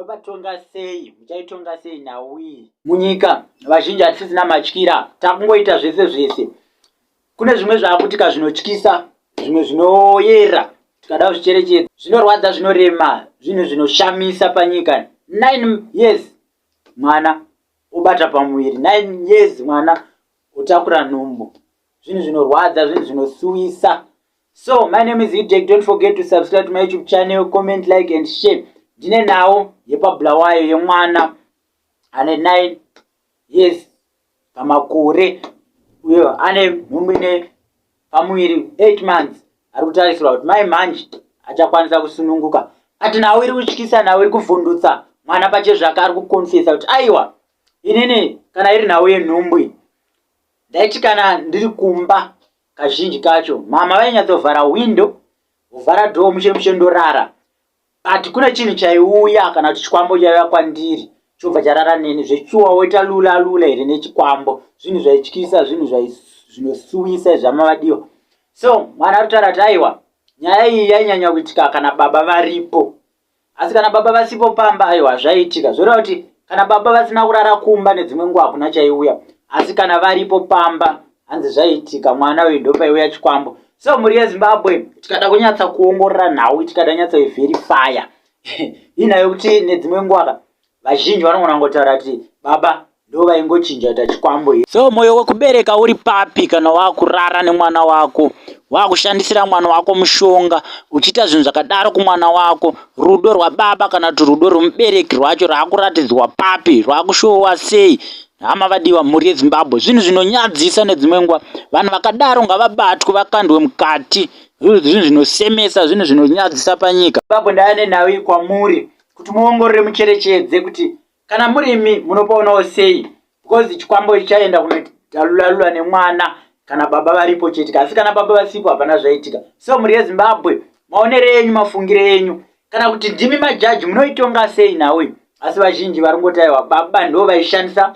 munovatonga sei muchaitonga sei nhau iyi munyika vazhinji hatisisina matyira takungoita zvese zvese kune zvimwe zvaakutika zvinotyisa zvimwe zvinoyera tikada zvicherechedza zvinorwadza zvinorema zvinhu zvinoshamisa panyika nine years mwana obata pamuviri nine years mwana otakura nhumbu zvinhu zvinorwadza zvinhu zvinosuwisa So my name is Hidek, don't forget to subscribe to my YouTube channel, comment, like and share. Ndine nawo yepabulawayo yemwana ane 9 years pamakore uyo ane nhumbu ine pamuviri 8 months ari kutarisirwa kuti mai manje achakwanisa kusununguka ati nawo iri kutyisa nawo iri kuvhundutsa mwana pachezvake ari kukonfesa kuti aiwa inini kana iri nhau yenhumbu iyi ndaiti kana ndiri kumba Kazhinji kacho mama vainyatsovhara window vovhara door mushe mushe ndorara but kune chinhu chaiuya kana kuti chikwambo chaiuya kwandiri chobva charara neni zvechuwa woita lula lula here nechikwambo zvinhu zvaityisa zvinhu zvinosuwisa izvamavadiwa so mwana arutaura kuti aiwa nyaya iyi yainyanya kuitika kana baba varipo asi kana baba vasipo pamba aiwa zvaiitika zvoreva kuti kana baba vasina kurara kumba nedzimwe nguva hakuna chaiuya asi kana varipo pamba hanzi zvaiitika mwana uyu ndopaiuya chikwambo so mhuri yezimbabwe tikada kunyatsa kuongorora nhau tikada nyatsa iverifya inayo kuti nedzimwe nguvaka vazhinji vanogona ngotaura kuti baba ndo vaingochinja kuita chikwambo here so mwoyo wekubereka uri papi kana wakurara nemwana wako wakushandisira mwana wako mushonga uchiita zvinhu zvakadaro kumwana wako rudo rwababa kana kuti rudo rwemubereki rwacho raakuratidzwa papi rwakushowa sei hama vadiwa mhuri yezimbabwe zvinhu zvinonyadzisa nedzimwe nguva vanhu vakadaro ngavabatwe vakandwe mukati zvinhu zvinosemesa zvinhu zvinonyadzisa panyika zimbabwe ndaya nenhau iyi kwamuri kuti muongorore mucherechedze kuti kana murimi munopaonawo sei because chikwambo ichi chaenda kunotalulalula nemwana kana baba varipo chete asi kana baba vasipo hapana zvaitika so mhuri yezimbabwe maonere enyu mafungire enyu kana kuti ndimi majaji munoitonga sei nhau iyi asi vazhinji vari ngotaiwa baba ndo vaishandisa